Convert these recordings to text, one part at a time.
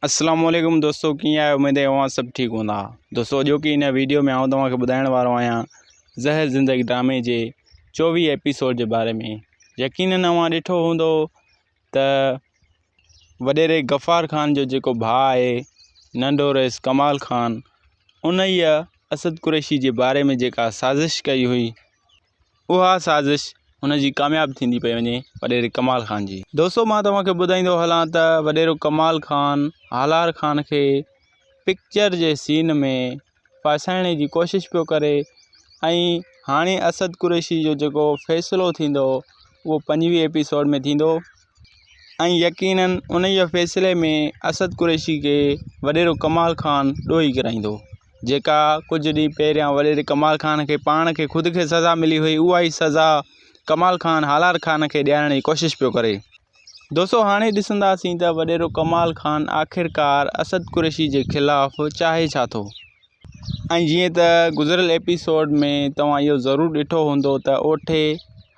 اسلام عليڪم دوستو ڪيئن آهيو اميد آهي اوهان سڀ ٺيڪ هوندا دوستو اڄوڪي هن ويڊيو ۾ آئون توهان کي ٻڌائڻ وارو آهيان زهر زندگي ڊرامي جي چوويهه ايپيسوڊ جي باري ۾ يقينن اوهان ڏٺو هوندو ته وڏيري غفار خان جو جيڪو ڀاء آهي ننڍو رئيس ڪمال خان ان اسد قريشي جي باري ۾ جيڪا سازش ڪئي هئي اها سازش هن جي ڪامياب ٿيندي پئي وڃي وڏيري ڪمال خان جي. دوستو مان توهان کي ٻڌائيندو هلان ته وڏيرو ڪمال خان هالار خان کي پڪچر جي سين ۾ ڦاسائڻ جي ڪوشش پيو ڪري ۽ هاڻي اسد قريشي جو جيڪو فيصلو ٿيندو اهو پنجويهه ايپيسوڊ ۾ ٿيندو. ۽ يقيناً انهيء فيصلي ۾ اسد قريشي کي وڏيرو ڪمال خان ڏوهي ڪرائيندو. جيڪا ڪجهه ڏينهن پهريان وڏيري ڪمال خان کي پاڻ کي خود کي سزا ملي هئي اها ئي سزا ڪمال خان هالار خان کي ڏيارڻ جي ڪوشش پيو ڪري. دوستو هاڻي ڏسنداسين ته وڏيرو ڪمال خان آخرڪار اسد قريشي جي خلاف چاهي ڇا ٿو؟ ۽ جيئن ته گذريل ايپيسوڊ ۾ توهان اهو ضرور ڏٺو هوندو ته اوٺي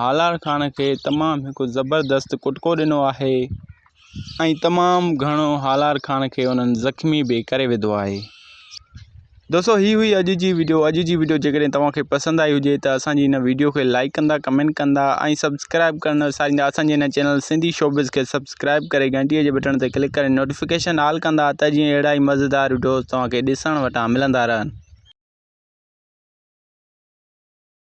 هالار خان کي تمام هڪ زبردست ڪٽڪو ڏنو آهي ۽ تمام گهڻو هالار خان کي انهن زخمي به ڪري وڌو آهي دوستو هي هئي اڄ جي ويڊيو اڄ جي ويڊيو جيڪڏهن توهان کي پسند آئي هجي ته اسان جي هن ويڊيو کي لائڪ ڪندا ڪمينٽ ڪندا ۽ سبسڪرائب ڪرڻ وساريندا اسان جي هن چينل سنڌي شوبز کي سبسڪرائب سبسڪرائب ڪري گهنٽي جي بٽڻ تي ڪلڪ ڪري نوٽيفڪيشن آل ڪندا ته جيئن اهڙا ئي مزيدار وڊيوز توهان کي ڏسڻ وٽان ملندا رهن